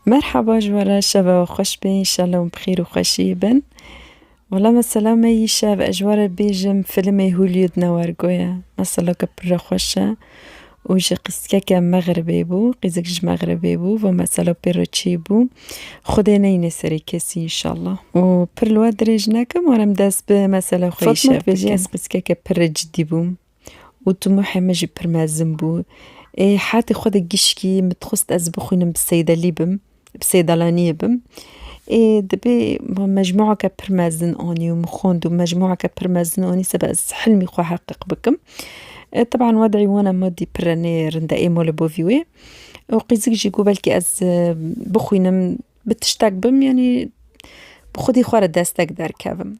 Merhaba ji we re şeva we xweş be înşallah hûn bi xêr û xweşiyê bin. Wala me selame yî şev ez ji we re bêjim filmê Hûlî di ne wergo ye. Meseleke pir re xweş e û ji qîzkeke Mexribê bû. Qîzik ji Mexribê bû vê mesela pê re çê bû. Xwedê neyne serê kesî înşallah. Û pir li we dirêj nekim war em dest bi mesela xwe yî şev bikim. Fatma dibêje ez qîzkeke pir re cidî bûm. û timûhê min jî pir mezin bû. Ê hetê xwe de gişkî min dixwest ez bixwînim bi seydelî bim, bi seydalaniyê bim. Ê dibê min mecmueke pir mezin anî û min xwend û mecmueke pir mezin anî seba ez hilmî xwe heqîq bikim. Teban wed'î wana madî pir re nê rind e, ê mala bo vî wê. Û qîzik jî got belkî ez bixwînim bi tiştek bim yanî bi xwedî xwe re destek derkevim.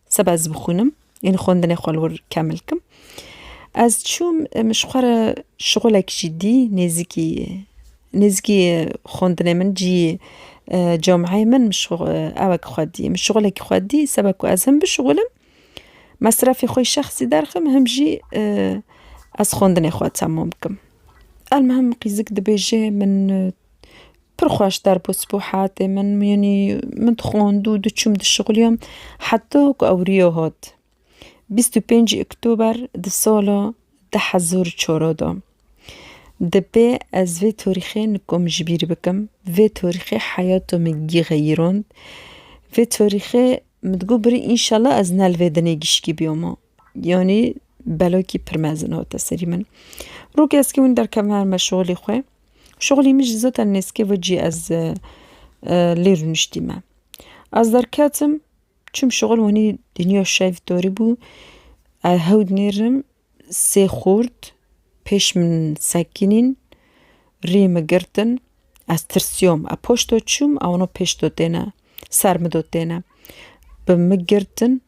Seba ez bixwînim, yên xwendinê xwe li wir kemil kim. Ez çûm ji xwe re şixulek jî dî nêzîkî nêzîkî xwendinê min cî cameyê min ew e ku xwe dî. Min şixulekî xwe dî seba ku ez him bişixulim, mesrefê xwe yê şexsî derxim him jî ez xwendinê xwe temam bikim. Elmuhim qîzik dibêje min Pir xweş derbû spû hatê min yanî min dixwand û diçûm dişixuliyam heta ku ewriya hat. Bîst û pêncî Oktober di sala du hezar û çar de dibê ez vê tarîxê nikom ji bîr bikim. Vê tarîxê heyata min gireyîrand. Vê tarîxê min digot birî înşela ez ne li vê dinê gişkî biyama. Yanî belokî pir mezin hate serî min. Rok eskî hûn derkevin her me şolî xwe. Şolî min jî zaten nêzkê ve cî ez lê rûniştî me. Ez derketim çûm şol wanî dinya şev torî bû hewd nêrim sê xort pêş min sekînîn rî min girtin ez tirsiyom ez poşto çûm ewano pêşdo têne ser min do têne bi min girtin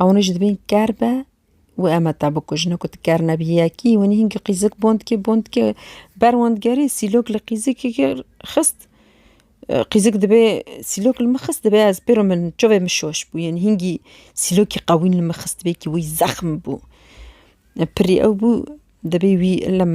Ewne jî dibin ker be û em heta bikujin. Ku tu ker nebî yekî winî hingî qîzik bond dikê bond dikê ber wan digerî sîlok li qîzikeke xist qîzik dibê sîlok li min xist dibê ez pêro min çavê min şoş bû yên hingî sîlokî qewî li min xist bê wî zexm bû pirî ew bû dibê wî ilim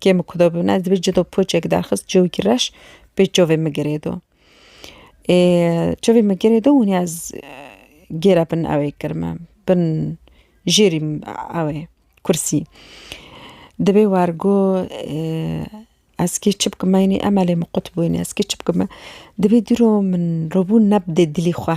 Kê min ku da bibin ez dibê cida poçek derxist cewikî reş pê çavê min girê do. Ê çavê min girê do hûnê ez gêre bin ewê kir me bin jêrî ewê kursî. Dibê wergo ez kê çi bikim me înê emelê min qut bûyne ez kê çi bikim me dibê dîro min robûn ne bidê dilî xwe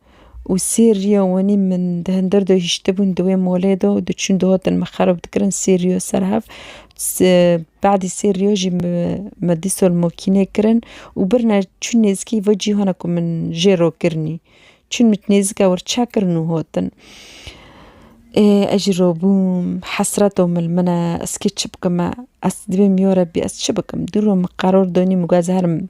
û sê riya wenî min di hindir de hiştibûn di wê molê de û diçûn dihatin min xerab dikirin sê riya ser hev badî sê riya jî me dî sal makînê kirin û birine çûn nêzîkî vê cîhana ku min jê re kirinî çûn min nêzîka wir çekirin û hatin ê ez jî rabûm hesreta mil min e ez kê çi bikim me ez divê mijarê bê ez çi bikim dû rû min qeror danîm ku ez herim.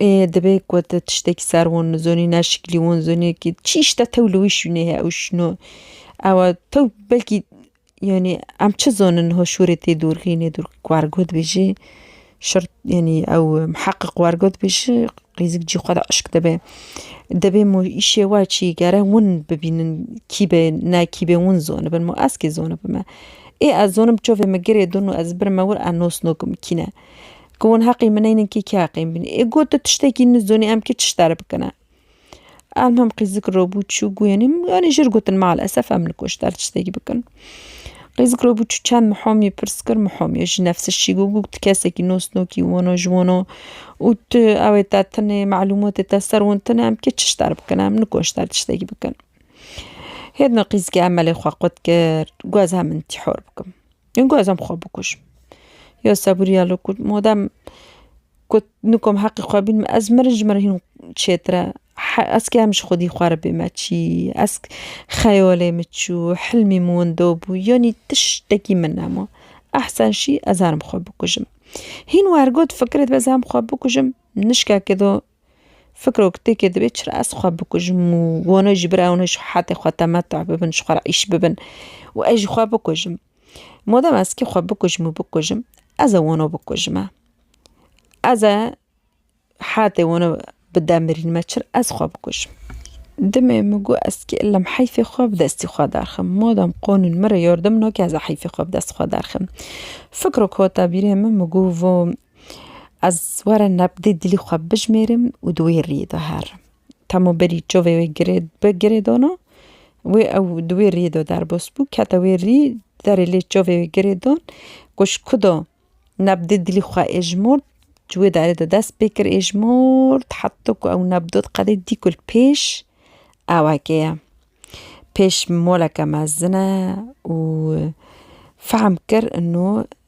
Ê divê ku tu tiştekî ser wan nizanî neşikilî wan zanî kî çi îşte tew li wî şûnê heye û şûna ew e tew belkî yanî em çi zanin niha şûrê tê dorxînê dûr ku wergo dibêjê şert yanî ew miheqeq wergo dibêje qîzik cî xwe de eşq dibe dibê ma îşê we çi gere wan bibînin kî be ne kî be wan zanibin ma ez kê zanibime ê ez zanim çavê min girê din û ez birim wir ez nas nakim kî ne Ku hûn heqî min neynin kî kî heqî min bînin. Ê got tu tiştekî nizonî em kî tişt erê bikine. Em him qîzik robû çû guyanî yanî jir gotin mal esef em li koçber tiştekî bikin. Qîzik robû çû çend mihomî pirs kir mihomî ji nefsir şî got got tu kesekî nosnokî wano ji wano û tu ew ê te tune malûmatê te ser win tune em kî tişt erê bikine em nikoçber tiştekî bikin. Hêdna qîzikê em melê xwe qut kir got ez hemin tî hor bikim. Em ku ez em xwe bikujim. Ya sebûriya li ku madem ku nikom heqê xwe bînim ez mirim ji min re hîn çêtir e. Ez kê em ji xwedî xwe re bême çî ez xeyalê min çû hilmî min winda bû yanî tiştekî min nema. Ehsen şî ez herim xwe bikujim. Hîn wer got fikirê dibe ez herim xwe bikujim nişkekê de Fikrok têkê dibê çira ez xwe bikujim û wana ji bira wana ji hetê xwe temetû bibin ji xwe re îş bibin û ez jî xwe bikujim. Madem ez kê xwe bikujim û bikujim ez ê wana bikujime. Ez ê hetê wana bi demirînime çira ez xwe bikujim. Demê min got ez kê lem heyfê xwe bi destî xwe derxim. Madem qanûn min re yardim nake ez ê heyfê xwe bi destê xwe derxim. Fikrok hate bîrê min min got Ez were nebdê dilî xwe bijmêrim û di wê riyê de herim. Temo berî çavê wê girê bi girê dana, wê ew di wê riyê de derbas bû, kete wê rî, derê lê çavê wê girê dan ku ji ku de nebdê dilî xwe êjmûrt, ji wê derê de dest pê kir êjmûrt heta ku ew nebdot qedê dî ku li pêş ewekê ye. Pêş moleke mezin e û fehm kir ino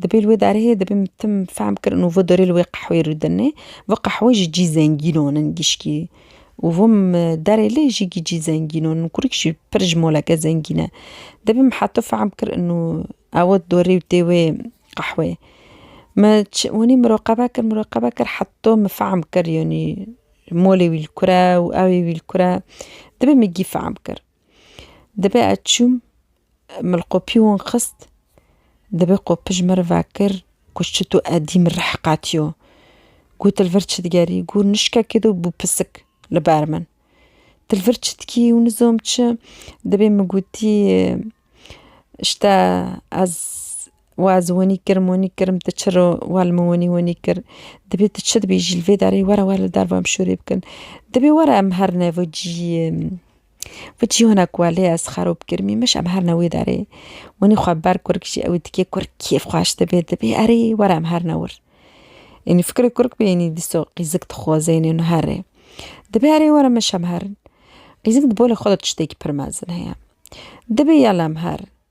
Dibê li wê derhê dibê min tim fehm kirin û vê dorê li wê qehwê rûdinê. Vê qehwe jî cî zengînon in gişkî û vê derê lê jî cî zengînon in. Kurîk jî pir ji moleke zengîn e. Dibê min heto fehm kirin û ewe dorê û tê wê qehwê. Me çi hûnî miroqebe kir miroqebe kir heto min fehm kir yanî molê wî li kur e û ewê wî li kur e. Dibê min gî fehm kir. Dibe ez çûm, min li qopî wan xist, dibe qopij min re vekir ku çito edî min rih qetiyo. Got tu li vir çi digerî? Got nişkekê de bû pisik li ber min. Tu li vir çi dikî û nizom çi? Dibê min gotî ji te ez û ez winî kirim winî kirim tu çiro wel min winî winî kir dibê tu çi dibê jî li vê derê were were li derve em şûrê bikin dibê were em her ne vir ciyê vir cî wina ku lê ez xerob kirmî mij em her ne wê derê winî xwe ber kurik jî ew ê dikê kurik kêf xweş dibê dibê erê were em her ne wir ênî fikirê kurik bê ênî dîsa qîzik dixwaze ênî li herê dibê erê were mij em herin qîzik di bo li xwe de tiştekî pir mezin heye dibê ya li em herin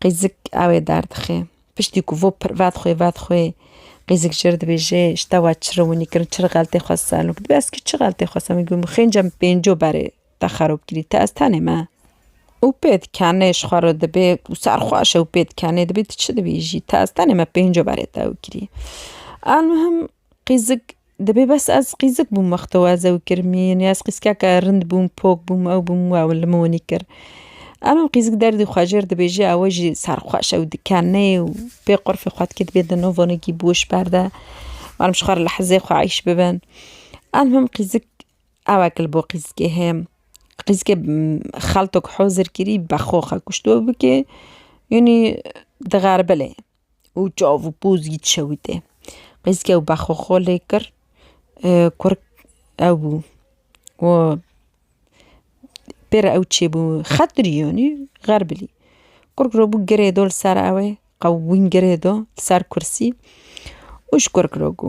Qîzik ewê derdixê. Piştî ku vo pir vedxwê vedxwê qîzik jir dibêje ji te we çi riwinî kirin çi xeltê xwe ser min kir. Dibê ez kî çi xeltê xwe ser min kir min xênca min pênco berê te xerab kirî te ez tenê me. Û pê dikenê ji xwe re dibê û serxweş e û pê dikenê dibê tu çi dibêjî te ez tenê me pênco berê te ew kirî. Elmuhim Qîzik, dibê bes ez qîzik bûm wexto ez ew kir mîn ez qîzkeke rind bûm pok bûm ew bûm wew li min winî kir. Elo qîzik derdî xwe jêr dibêje ew jî serxweş ew dikenê û pê qurfê xwe dikê dibê di no vonekî bi wişk berde warim ji xwe re li hizê xwe eyş bibin. Elmim qîzik ewek li bo qîzikê heye qîzikê xeltok hozir kirî bexwe xwe kuşt we bikê winî dixeribile. û çav û poz yî dişewite. Qîzke û bexwe xwe lê kir kur ew bû û pêra ew çêbû xetirî yanî xeribî kur kiribû girê do li ser ew ê qewimî girê do li ser kursî û ji kur kiribû.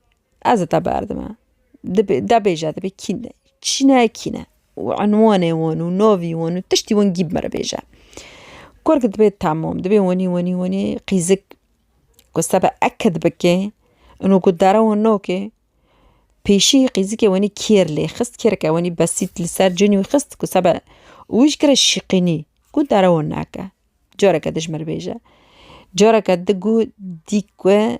Ez te berdime. Dibê debêje dibê kîn e. Çi ne kîn e û enwanê wan û navî wan û tiştî wan gîb mere bêje. Kurg dibê temam dibê wenî wenî wenî qîzik ku sebe ekid bikê û ku dere wan nakê pêşî qîzikê wenî kêr lê xist kêreke wenî besît li ser cînî wî xist ku sebe wî ji kere şîqînî ku dere wan nake. Careke dijmir bêje. Careke digu dîk we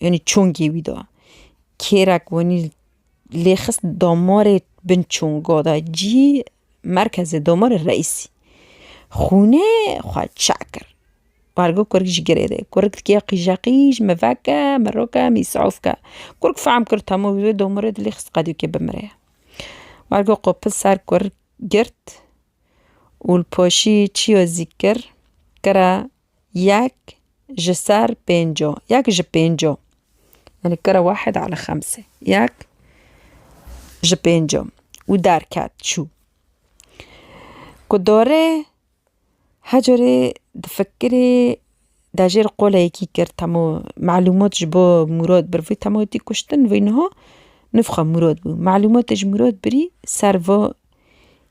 Yanî çongê wî da. Kêrek wenî lê xist damarê bin çonga da cî merkezê damarê reîsî. Xûnê xwe çe kir. Bargo kurik ji girê de. Kurik dike qîje qîj, mi veke, mi roke, mi îsaf ke. Kurik fehm kir temû wê damarê di lê xist qedûkê bimire. Bargo qopil ser kurik girt û li paşî çiya zî kir, kira Yek ji ser pênco, yek ji pênco, yanî kere wahid ale xemse, yek ji pênco û derket çû. Ku dore her carê difikirê dejêr qoleyekî kir temû malûmat ji bo Mûrad bir vî temû tî kuştin vî niha nifxa Mûrad bû malûmatê ji Mûrad birî ser va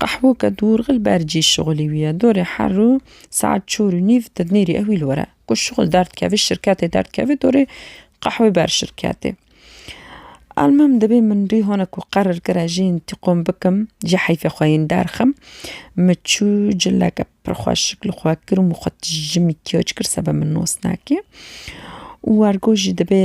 Qehweke dûrxil ber cî şixulî wî ye. Dorê her û saet çor û nîv di nêrî ewî li were. Ku şixul derdikevê şirketê derdikevê dorê qehwê ber şirketê. Elmim dibê min rî hone ku qerir kire jî întîqom bikim ji heyfê xwe yên derxim. Min çû cileke pir xweşik li xwe kir û min xwe tijî mikyaj kir sebe min nos nake. Û ergo jî dibê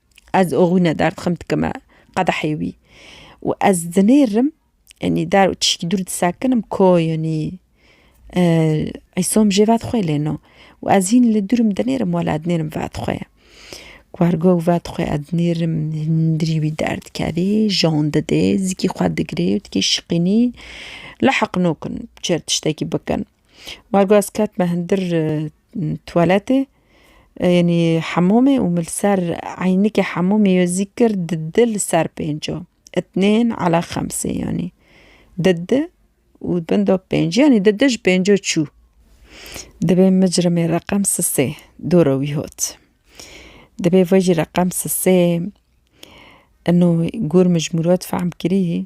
Ez oxwîne derdixim dikime qedehê wî û ez dinêrim yanî der û tişkî dûr disekinim ko yanî îsom jê vedixwê lêno û ez hîn li dûr im dinêrim wela dinêrim vedixwe ye. Wergo vedixwe ez dinêrim hundirî wî derdikevê jan didê zikî xwe digirê û dikê şiqînî li heqnokin çi tiştekî bikin. Wargaz ket me hundir tuwaletê yanî hemûmê û min li ser eynikê hemûmê wê zî kir di di li ser pênco itnên ala xemsê yanî di di û bin do pênc yanî di di ji pênco çû dibê micrimê reqem sisê dûra wî hot dibê vejî reqem sisê ino gûr mijmûr we difam kirî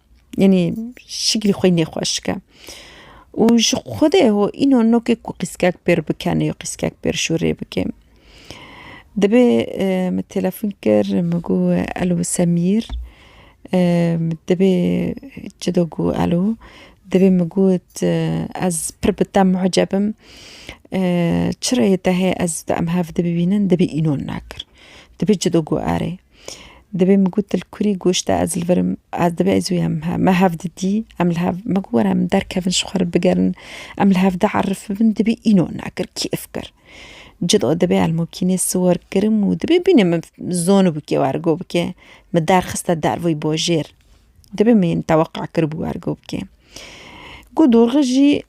Yanî şiklî xwe nêxweş dike û ji xwedê ho îno nokê ku qîskek pêr bikenê û qîskek pêr şûrê bikê. Dibê min telefon kir min got elo Semîr dibê çi do ku elo dibê min got ez pir bi te muheceb im çi reyê te heye ez bi te hev dibînin dibê înan nakir dibê çi do ku erê. Dibê min got li kurî goşt e ez li vir im, ez dibê ez û em me hev didî, em li hev me got were em derkevin ji xwe re bigerin, em li hev de erif bibin dibê îno nekir kêf kir. Cid o dibê elmokînê siwar kirim û dibê bîne min zonibû kê were got bikê min derxiste derveyî bajêr. Dibê min yên teweqa kiribû were got bikê. Got dorxe jî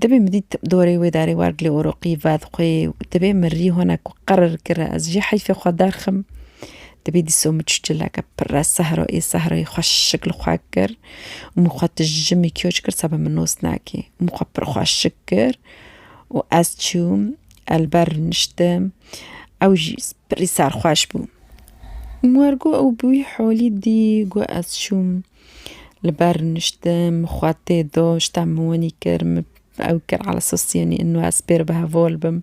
Dibê min dît dorê wê darê war dilê oroqî vat xwê dibê min rî hona ku qerir kira ez jî heyfê xwe derxim. Dibê dîso min çi çileke pire sehra ê sehrayê xweşik li xwe kir û min xwe tijimî kioç kir seba min nos nakê. Min xwe pir xweşik kir û ez çûm ez li ber niştim ew jî pirî serxweş bû. Min got ew bi wî halî dî got ez çûm. Li ber rûniştin min xwe tê do ji te min winî kir min ew kir ala sosîyenî û ez pê re bi hevol bim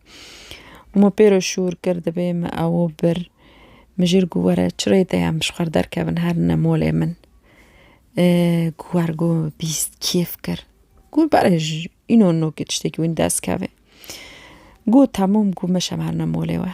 û min pê re şûr kir divê min ew bir. Min jî got were çi rê de ye em ji xwe re derkevin herine malê min got wer got bîst kêf kir got berê ji înan nokê tiştekî winî dest kevê got temam got meşem herine malê we.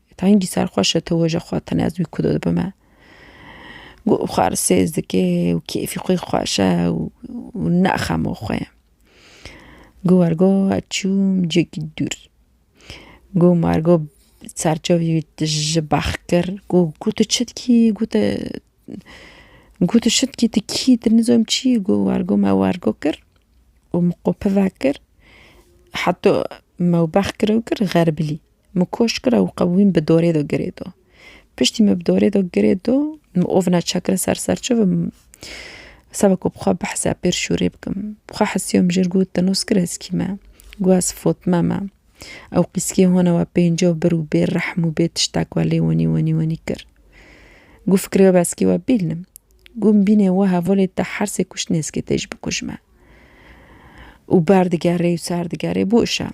Tengî ser xwe şete wêje xwe tenê ez wî kudo dibime. Got xwe re sêz dike û kêfî xwe xweş e û ne xemo xwe ye. Got wergo ez çûm cihekî dûr. Got me wergo ser çavê wî tije bex kir got ku tu çi dikî got e got tu çi dikî tu kî tu nizom çi yî got wergo me wergo kir û min qopi vekir heta me bex kir kir xeribîlî. Mi koş kira û qewîm bi dorê de girê do. Piştî me bi dorê de girê do, mi ovna çekir ser ser çi bi seba ku bi xwe behsa pêr şûrê bikim. Bi xwe hesiya min jir got te noskir eskî me. Got ez Fotme me. Ew qîskê hona we pênca bir û bê rehm û bê tiştek we lê wenî wenî wenî kir. Got fikirê we eskî we bîlnim. Got min bîne we hevalê te hersê kuştinê eskê te jî bikujme. Û berdigerê û serdigerê bo îşan.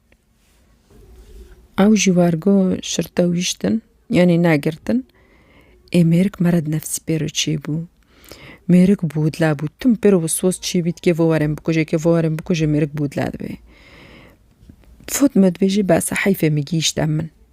Ew ji wergo şirte wîştin, yanî negirtin, ê mêrik mere di nefsî pê re çêbû. Mêrik bûdle bû, tim pê re wiswas çî bî dikê vê werin bikuje, kê vê werin bikuje mêrik bûdle dibê. Fot me dibêje behsa heyfê min gihîşte min.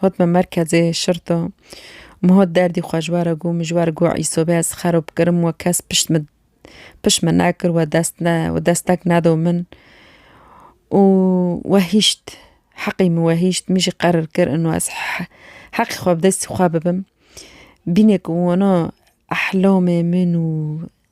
Hotme merkezê şirto. Min hot derdî xwe ji we re got. Min ji we re got Îso bê ez xerop kirim. We kes pişt min pişt min nekir. We dest ne we destek nedo min. Û we hîşt. Heqî min we hîşt. Min jî qerir kir ino ez he heqî xwe bi destî xwe bibim. Bîne ku wina ehlamê min û.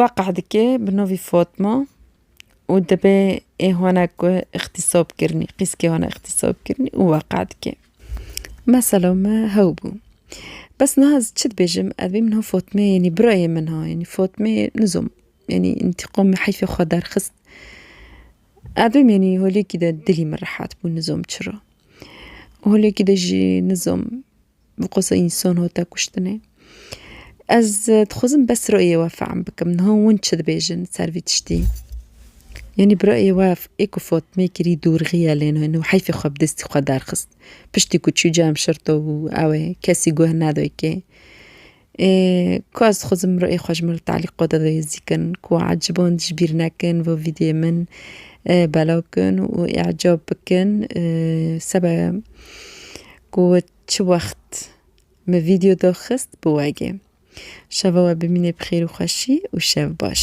Weqe dike bi navê Fatma û dibe ê hona ku îxtîsab kirinî qîskê hona îxtîsab kirinî û weqe dike. Mesela me hew bû. Bes niha ez çi dibêjim evê min ha Fatmeyê yanî birayê min ha yanî Fatmeyê nizom yanî întîqamê heyfê xwe derxist. Evê min yanî holêkî de dilî min rehet bû nizom çira. Holêkî de jî nizom bi qasî însan hate kuştinê. Ez dixwazim bes rayê we fehm bikim niha hûn çi dibêjin li ser vî tiştî. Yanî bi rayê we ê ku Fatmê kirî dorxî ye lê nû heyfê xwe bi destî xwe derxist. Piştî ku çû cem şerto û ew ê kesî guh neday kê. Ku ez xwezim rûyê xwe ji me li talîqo de bihêzîkin ku eciband ji bîr nekin vê vîdyê min belav bikin û îcab bikin sebe ku çi wext min vîdyo daxist biwegê. Şeva we bimîne bi xêr û xweşî û şev baş.